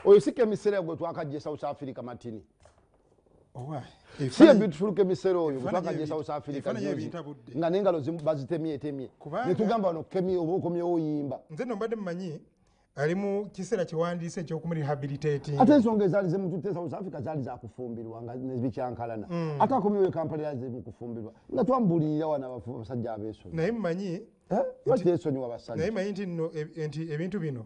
oyo si kemisera gwe twakajja e south africa matini si ebitufulo kemisera oyo gwe twakajja e south africa juzi nga nengalo bazitemyetemye netugamba wano kemi oba okomyewo oyimba nze nombadde mumanyi ali mu kiseera kyewandiise ekyokumurehabilitating ate ensonga ezaali zemututte south africa zaali zakufumbirwa nga nezibikyankalana mm. ate akomyewo ekampala era zemukufumbirwa nga twambuulirira wano abasajja abeesonyi naye mumanyi eh? lwaki teesonyiwa basajja naye manyi nti nno e, nti ebintu bino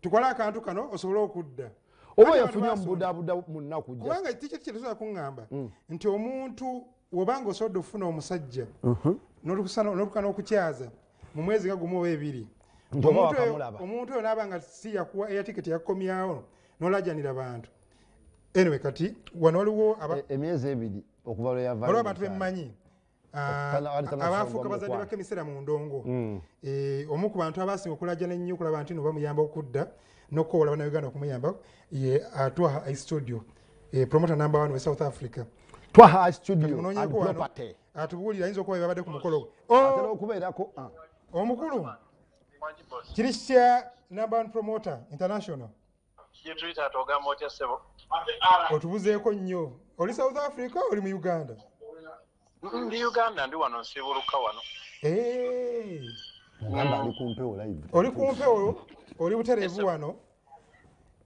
tukole akantu kano osobole okudda oba yafunye omubudabuda munaku kubanga tikiti kyetusobola kuŋŋamba mm. nti omuntu wobanga osobodde okufuna omusajja mhm. nolukana okukyaza mu mwezi nga gumu oba ebiri omuntu oyo naaba nga si yakuwa eya tikiti yakukomyawo nolajanira bantu anyway kati wano waliwo e, emyezi ebiri okuva lweyavaolwa abantu bemmanyi Ah, abaafuuka bazadde ba kemisera mu ndongo hmm. eh, omu ku bantu abaasinga okulajana ennyo okulaba nti no bamuyamba okudda n'okukowola banauganda okumuyamba ye ah, twaha i studio eh, promoter number one we south africa twaha i studio and property atubuulira ayinza okuba babadde ku mukolo oh! okubeerako ah. omukulu kiri kitya number one promoter international otubuzeeko nnyo oli south africa oli mu uganda ndi uganda ndi wano nsiibuluka wano eh. oli kumpewo oli butereevu wano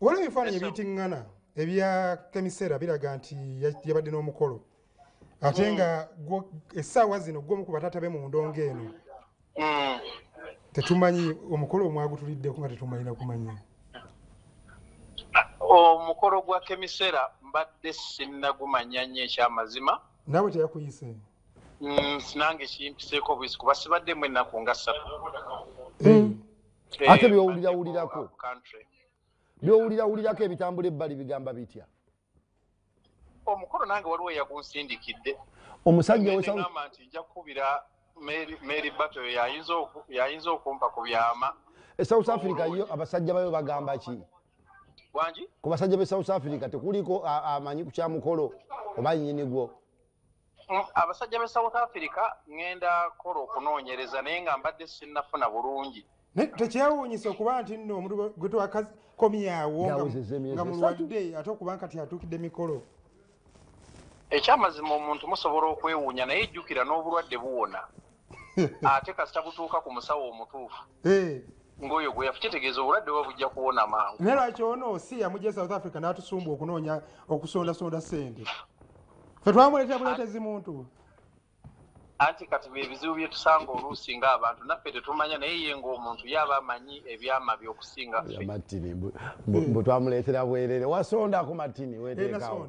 waliwo ebifaananyi ebitiŋŋana ebya kemisera biraga nti yabadde n'omukolo ate nga essaawa zino gwomu ku bataata be mu ndongo eno mm. tetumanyi omukolo omwagutuliddeko nga tetumanyina kumanya omukolo gwa kemisera mbadde sinnagumanya nnyo ekyamazima nawe teyakuyise mm, sinange kimpiseeko bwisi kuba sibaddemu ennaku nga ssatu eh. Eh, ate byowulirawulirako byowulirawulirako ebitambula ebbali bigamba bitya omukolo nange waliwo eyagunsindikidde omusajja wegamba nti nja kukubira mary bato yayinza okumpa ku byama e south africa yo abasajja bayo bagamba ki wangi ku basajja be south africa tekuliko amanyi ku kya mukolo oba nyini gwo abasajja be south africa ŋŋenda kola okunoonyereza naye nga mbadde sinnafuna bulungi naye tekyewuunyisa okuba nti nno omuntu gwe twakakomyawo nga mulwadde ate okuba kati atuukidde mikolo ekyamazima omuntu musobola okwewuunya naye jjukira n'obulwadde buwona ate kasita butuuka ku musawo omutuufu eh. ngoyo gwe yafu kitegeeza obulwadde oba bujja kuwona mangu naye lwaki ono si yamugya e south africa n'atusumba okunoonya okusondasonda sente fe twamuleetera buleetezi muntu anti kati byebizibu byetusanga oluusi nga abantu naffe tetumanya naye ye ngaomuntu yaba amanyi ebyama byokusinga ffe bwetwamuleetera bwerere wasonda ku matini weteekawo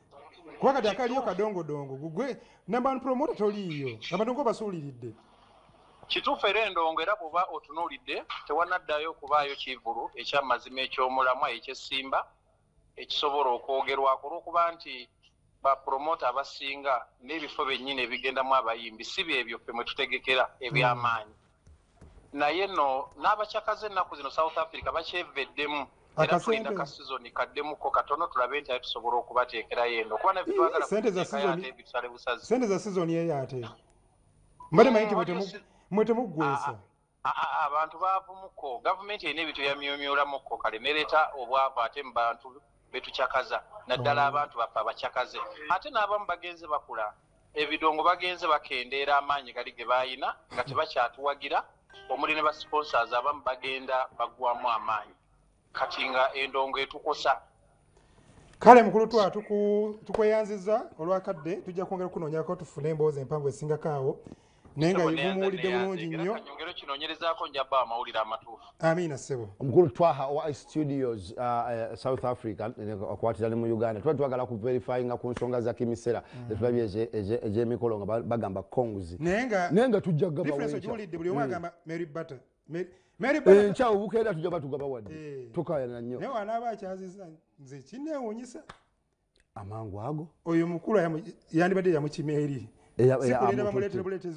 kuba kati akaliyo kadongodongo gugwe namba one promota toliiyo abantu nko basuuliridde kituufu era endongo era bwoba otunuulidde tewanaddayo okubaayo kivulu ekyamazima ekyomulamwa ekyesimba ekisobola okwogerwako olwokuba nti bapromota abasinga n'ebifo bennyini ebigendamu abayimbi si byebyo ffe mwe tutegekera ebyamaanyi naye no n'abacakaze ennaku zino south africa bakyeveddemu era tulinda ka sizoni kaddemuko katono tulabe nti aye tusobola okubateekerayo eno kuba nabitwagalate ebisale busazi sente za sizoni eyo ate mbade mayi mwe temuggwesa abantu baavumuko gavumenti erina ebintu byamyumyulamuko kale nereeta obwavu ate mu bantu betucakaza naddala oh. abantu baffe abacakaze ate n'abamu bagenze bakula ebidongo bagenze bakendeera amaanyi gali ge baalina nga tebakyatuwagira omuli ne basponsors abamu bagenda baggwamu amaanyi kati nga endongo etukosa kale mukulu twa tukweyanziza olwakadde tujja kwongera okunoonyako tufune emboozi empanvu esingako awo naye nga mumuwulidde bulungi nnyo amiina ssebo omukulu twaha owa studios uh, uh, south africa akwatira ne mu uganda tuba twagala kuverifyinga ku nsonga za kimisera mm. zetulabye egyemikolo nga bagamba congs naye nga tujja gabaulidde buli omu mm. agamba mary butter enkya eh, obukeera tujja batugaba wadde eh. tukayana nnyo naye wanaaba akyaziza nze kinewunyisa amangu ago oyo mukulu yandibadde yamukima eri